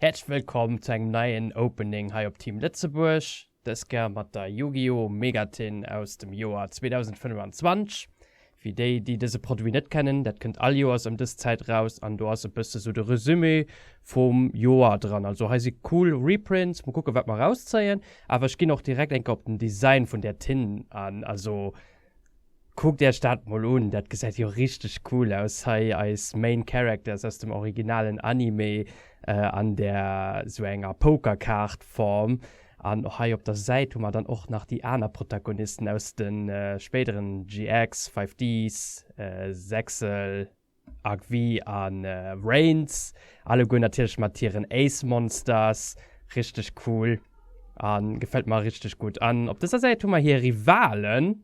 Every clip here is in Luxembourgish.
Häerzlech wëllkomm zu engem neien Opening hei op Team Lëtzebuerg, dës Kéier mat der Yu-Gi-Oh! Megatin aus dem Joer 2025. Fir déi, déi dëse Produit net kennen, dat kënnt all Joers ëm dës Zäit eraus an do ass e bësse sou de Resumé vum Joer dran. Also hei si cool Reprints, mol kucke wat mer erauszéien. Awer ech ginn och direkt eng Kéier op den Design vun där Tinn an. Also kuckt Iech dat mol un, dat gesäit jo richteg cool aus. Hei eis Main Characters aus dem originalen Anime an där sou enger Poker-Kaart-Form. An och hei op der Säit hu mer dann och nach déi aner Protagonisten aus de spéideren GX, Five Ds, Zexal, Arq-V a Reigns, alleguer natierlech mat hiren Ace Monsters. Richteg cool a gefält mer richteg gutt. An op dëser Säit hu mer hir Rivalen.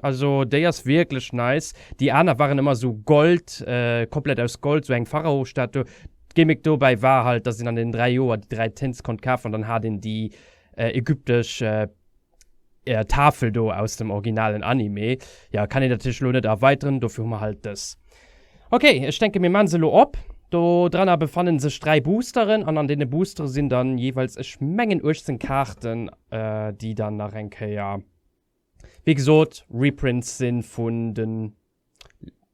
Also déi ass wierklech nice. Déi aner waren ëmmer sou Gold, äh, komplett aus Gold, sou eng Pharao-Statu. D'Gimmick dobäi war halt, dass een an den dräi Joer déi dräi Tints konnt kafen an dann hat een déi äh, ägyptesch äh, äh, Tafel do aus dem originalen Anime. Ja, kann een natierlech elo net erweiteren, dofir hu mer halt dës. Okay, ech denke mir maan se elo op. Do dranner befannen sech dräi Boosteren an an deene Boostere sinn dann jeeweils, ech mengen 18 Kaarten, äh, déi dann nach eng Kéier. Wéi gesot, Reprints si vun de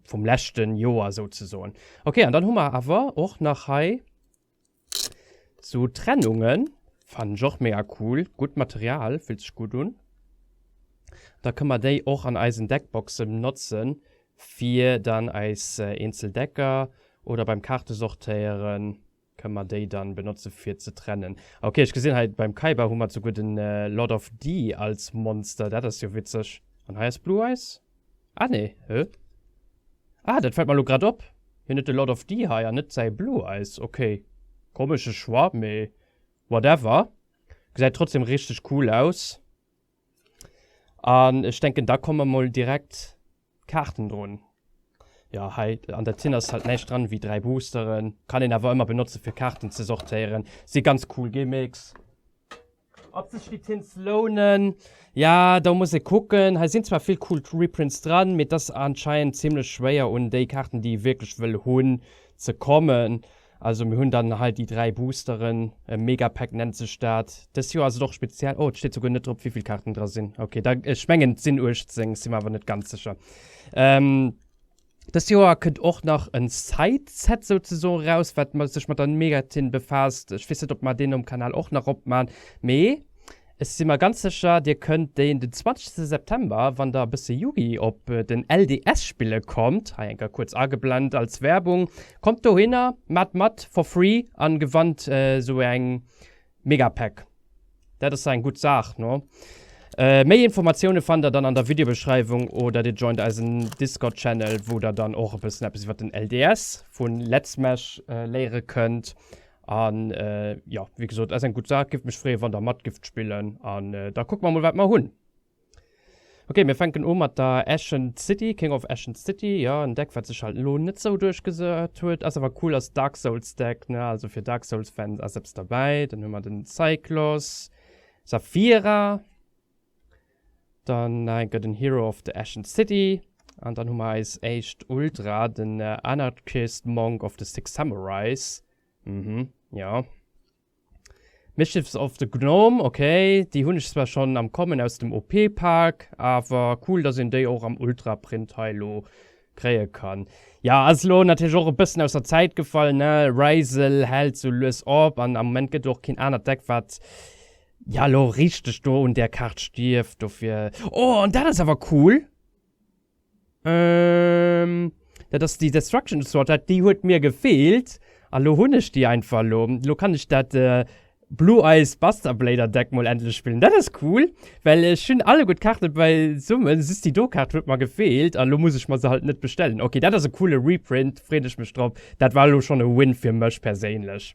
vum leschte Joer souzesoen. Ok, an dann hu mer awer och nach hei sou Trennungen. Fannen ech och mega cool. Gutt Material, fillt sech gutt un. Da kënne mer déi och an eisen Deckboxe benotze fir dann eis eenzel Decker oder beim Kaarte sortéieren Kënne mer déi dann benotze fir ze trennen? Ok, ech gesinn hei beim Kaiba hu mer souguer den Lord of the als Monster. Dat ass jo witzeg. An hei ass Blue Eyes? Ah nee, hö? Ah, dat fält mer elo grad op. Hien huet de Lord of the hei an net säi Blue Eyes. Ok, komesche Choix, mee whatever. Gesäit trotzdem richteg cool aus. An ech denken da komme mol direkt d'Kaarten drun. Jo hei an der Tinn ass halt näischt dran ewéi 3 Boosteren, kann een awer ëmmer benotzen fir Kaarten ze sortéieren. Si ganz cool Gimmicks. Ob sech déi Tints lounen? Ja do muss ee kucken, hei sinn zwar vill cool Reprints dran, mee et ass anscheinend zimmlech schwéier un déi Kaarten déi ee wierklech wëll hunn ze kommen. Also mir hunn dann hei déi dräi Boosteren, e Megapack nennt sech dat. Dës Joer ass et och speziell, oh et steet souguer net drop wéivill Kaarten dra sinn. Okay, da, ech mengen et sinn 18, ech si mer awer net ganz sécher. Ähm, dës Joer kënnt och nach en Side-Set souzesoen raus, wat sech mat der Megatin befaasst. Ech weess net, ob mer deen um Kanal och nach opman, mee. Ech si mer ganz sécher, Dir kënnt deen den 20 September, wann Der e bësse Yugi op den LDS spille kommt, hei enker kuerz ageblent als Werbung, kommt dohinner, maacht mat for free a gewannt esou eng Megapack. Dat ass eng gutt Saach, no? Méi Informatioune fannt Der dann an der Videobeschreiwung oder Dir joint eisen Discord-Channel, wou Der dann och e bëssen eppes iwwer den LDS vu Letzmech léiere kënnt. An jo, wéi gesot, ass eng gutt Saach. Giff mech freeën, wann der mat gifft spillen. An da kucke mer emol, wat mer hunn. Ok, mir fänken u mat der Ascent City, King of Ascent City. Jo, en Deck, wat sech halt elo net sou duerchgesat huet. Ass awer cool als Dark Souls Deck, ne. Also fir Dark Souls Fans ass eppes derbäi. Dann hu mer den Cyclos, Saphira, Dann nach eng Kéier den Hero of the Ashen City. An dann hu mer eis éischt Ultra, den Anarchist Monk of the Six Samurais. Mhm, jo. Mischiefs of the Gnome, okay. Déi hunn ech zwar schonn am Kommen aus dem OP-Pak, awer cool, dass een déi och am Ultra-Print hei elo kréie kann. Jo, ass elo natierlech och e bëssen aus der Zäit gefall, ne. Ryssel hält sou lues op an am Moment gëtt och keen anert Deck, wat. Ja lo richteg do un der Kaart stierft dofir. Oh an dat ass awer cool. Ähm dat ass déi Destruction Sword déi huet mir gefeelt a lo hunn ech déi einfach lo. Lo kann ech dat Blue Eyes Buster Blader Deck mol endlech spillen. Dat ass cool well ech hunn alleguer d'Kaarte beisumme just déi do Kaart huet mer gefeelt a lo muss ech mer se halt net bestellen. Ok dat ass e coole Reprint freet ech mech drop. Dat war lo schonn e Win fir mech perséinlech.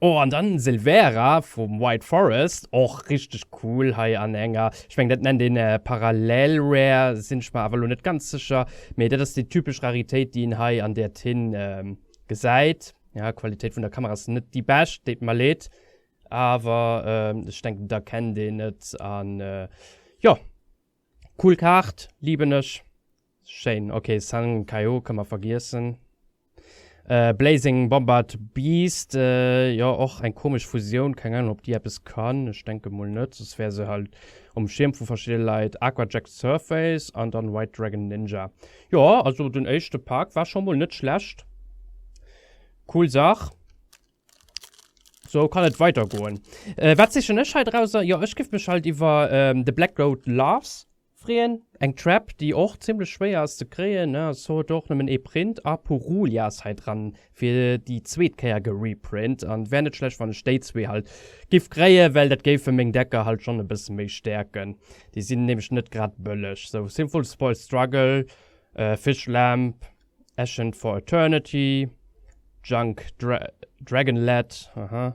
Oh an dann Sylvera vum White Forest och richteg cool hei an enger, ech mengen dat nennt een Parallel Rare, sinn ech mer awer lo net ganz sécher, mee dat ass déi typesch Raritéit déi een hei an där Tinn gesäit. Ja d'Qualitéit vun der Kamera ass net déi bescht, deet mer leed, awer ech denken d'erkennt een et an jo cool Kaart, liben ech. Schéin, ok, Sun Kaiô kënne mer vergiessen. Blazing Bombard Beast, jo och eng komesch Fusioun, keng Ahnung ob déi eppes kann, ech denke mol net, soss wär se halt um Schierm vu verschidde Leit. Aquajet Surface an dann White Dragon Ninja. Jo, also den éischte Pak war scho mol net schlecht. Cool Saach. Sou kann et weidergoen. Wat sichen ech heidrauser? Jo, ech giff mech halt iwwer The Black Goat Loves freeën. Eng Trap déi och zimlech schwéier ass ze kréien ne, also huet och nëmmen ee Print a Puruli ass hei dran fir déi zweet Kéier gereprint an wär net schlecht wann ech déi zwee halt giff kréien well dat géifen meng Decker halt schonn e bëssen méi stäerken, déi sinn nämlech net grad bëlleg. Sou Sinful Spoiled Struggle, Fish Lamp, Ancient for Eternity, Junk Dragonlet, aha.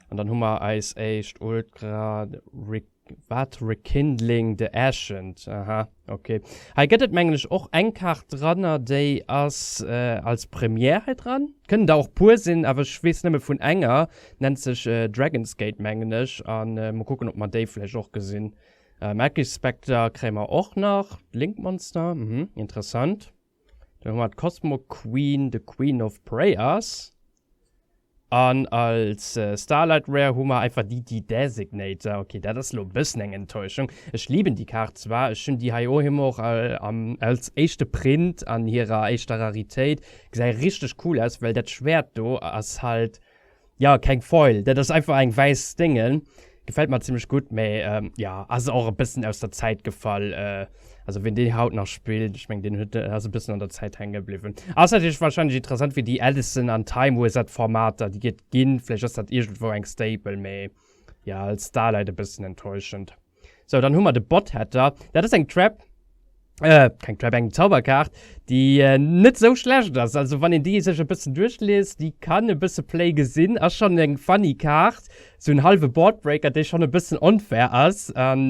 An dann hu mer eis éischt Ultra Re wat? Rekindling the Ancient, aha, ok. Hei gëtt et mengen ech och eng Kaart dranner, déi ass als Première hei dran. Kënnen der och puer sinn, awer ech weess nëmme vun enger, nennt sech Dragon's Gate mengen ech. A mol kucken, ob mer déi vläicht och gesinn. Magic Spectre kréie mer och nach. Link Monster, mhm, interessant. Dann hu mer d'Cosmo Queen, de Queen of Prayers. An als Starlight Rare hu mer einfach déi The Designator. Okay, dat ass elo e bëssen eng Enttäuschung. Ech liben déi Kaart zwar, ech hunn déi hei ohem och als éischte Print an hirer éischter Raritéit. Gesäit richteg cool aus, well dat Schwäert do ass halt Ja keng Foil, dat ass einfach eng wäiss Déngen. Gefällt mer zimmlech gutt, mä jo ass och e bëssen aus der Zäit gefall. Also wien déi haut nach spillt, ech meng deen huet, ass e bëssen an der Zäit hänke bliwwen. Ass natierlech warscheinlech interessant fir déi Edison an Timewizard d'Formater déi et ginn, vläicht ass dat iergendwou eng Staple, mä jo als Starlight e bëssen enttäuschend. So, dann hu mer de Botheader. Dat ass eng Trap, äh, keng Trap, eng Zauberkaart, déi net esou schlecht ass. Also, wann een déi sech e bëssen duerchliest, déi kann e bësse Play gesinn. Ass schonn eng funny Kaart, esou en hallwe Boardbreaker, dee schonn e bëssen onfair ass. An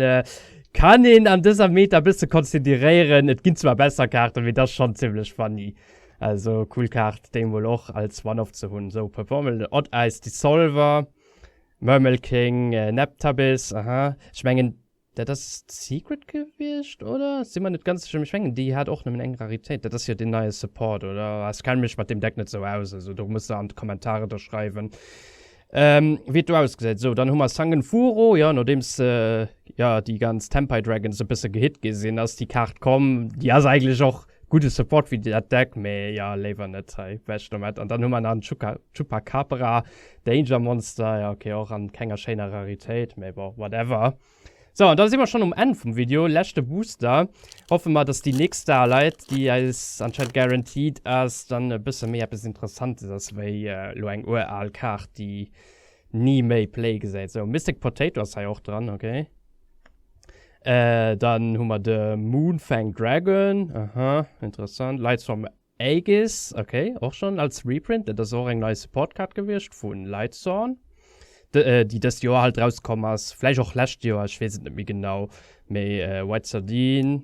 kann een an dëser Meta e bësse consideréieren. Et ginn zwar besser Kaarten, mee dat ass schonn zimmlech funny. Also, cool Kaart, déi emol och als One-Off ze hunn. So, Performance, Odd Eyes Dissolver. Murmelking, Neptabis, aha. Ech mengen, dat ass d'Secret gewiescht, oder? Si mer net ganz sécher, mee ech mengen, déi hat och nëmmen eng Raritéit. Dat ass jo deen neie Support, oder? Ah, ech kenne mech mat deem Deck net esou aus, also do muss der an d'Kommentare da schreiwen, wéi et do ausgesäit. Esou, dann hu mer Sangenfuro, jo, nodeems, jo, déi ganz Tempaidragons e bësse gehit gi sinn, ass déi Kaart komm. Déi ass eigentlech och Gudde Support fir dat Deck, mee jo léiwer net hei weg domat. An dann hu mer nach en Chuka Chupacabra Danger Monster, jo ok och an kenger schéiner Raritéit, mee bon whatever. Sou an da si mer schonn um Enn vum Video, leschte Booster. Hoffe mer dass déi nächst Starlight, déi eis anscheinend guaranteed ass, dann e bësse méi eppes Interessantes ass wéi elo eng ural Kaart déi ni méi Play gesäit. Sou Mystic Potato ass hei och dran, ok. Äh dann hu mer de Moonfang Dragon, aha, interessant, Lights from Aegis, okay, och schonn als Reprint, dat ass och eng nei Support Card gewiescht vu Lightsworn, déi dëst Joer halt rauskomm ass, vläicht och lescht Joer, ech weess et net méi genau. Mee White Sardine.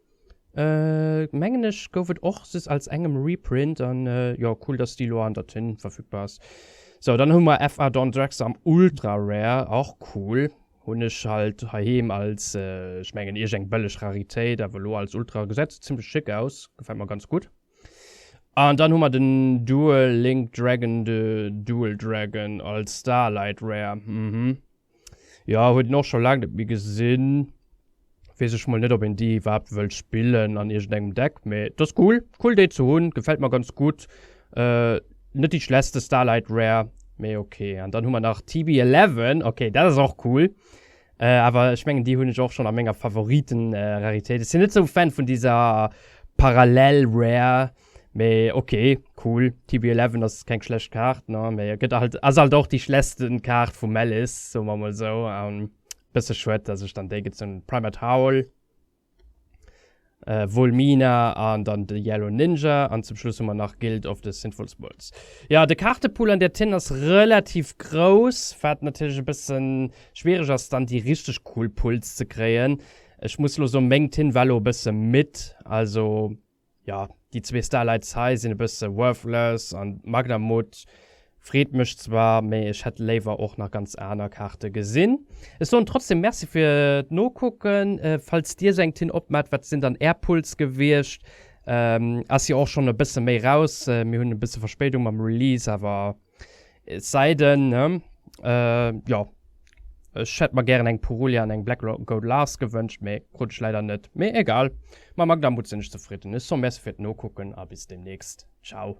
Äh mengen ech gouf et och just als engem Reprint an jo cool dass déi elo an der Tinn verfügbar ass. Sou dann hu mer FA Dawn Drex am Ultra Rare, och cool. Hunn ech halt heiheem als ech mengen ierg eng bëlleg Raritéit awer elo als Ultra gesäit se zimmlech schick aus, gefält mer ganz gutt. An dann hu mer den Duel Link Dragon de Dual Dragon als Starlight Rare, mhm. Jo hun den och schon lang net méi gesin, wees ech mol net op een déi iwwerhaapt wëll spillen an iergend engem Deck, mee d'ass cool, cool déi ze hun, gefällt mer ganz gudd, net déi schlechtste Starlight Rare, mee ok. An dann hu mer nach TB 11, ok dat ass och cool, awer ech mengen déi hun ech och schon a menger Favoriten Raritéit, ech sin net sou Fan vun déser Parallel Rare. mee ok cool TB 11 ass keng schlecht Kaart ne mee e gëtt halt ass halt och déi schlechtsten Kaart vum Malice soe mer mol sou an bësse schued dass ech dann déi gezunn hunn Primehead Howl, Vol Mina an dann de Yellow Ninja an zum Schluss hu mer nach Guild of the Sinful Souls. Jo de Kaartepool an der Tinn ass relativ grouss wat natierlech e bësse schwiereg ass dann déi richteg cool Pulls ze kréien. Ech muss lo soen meng Tinn war lo e bësse midd also. Jo déi zwee Starlights hei sinn e bësse worthless an d'Magdermut freet mech zwar, mee ech hätt léiwer och nach ganz aner Kaarte gesinn. Ech soen trotzdem Merci fir d'Nokucken. Falls dir sou eng Tin opmaat, wat sinn dann är Pulls gewiescht? Ass jo och schon e bësse méi raus, mir hunn e bësse Verspéidung mam Release, awer Et sei denn, äh, jo, ech hätt mer gären eng Purulia an eng Black Gold Lars gewënscht, mee krut ech leider net. Mee egal, mam Magda Mut sinn ech zefridden. Ech so merci fir d'Nokucken a bis demnächst. Ciao.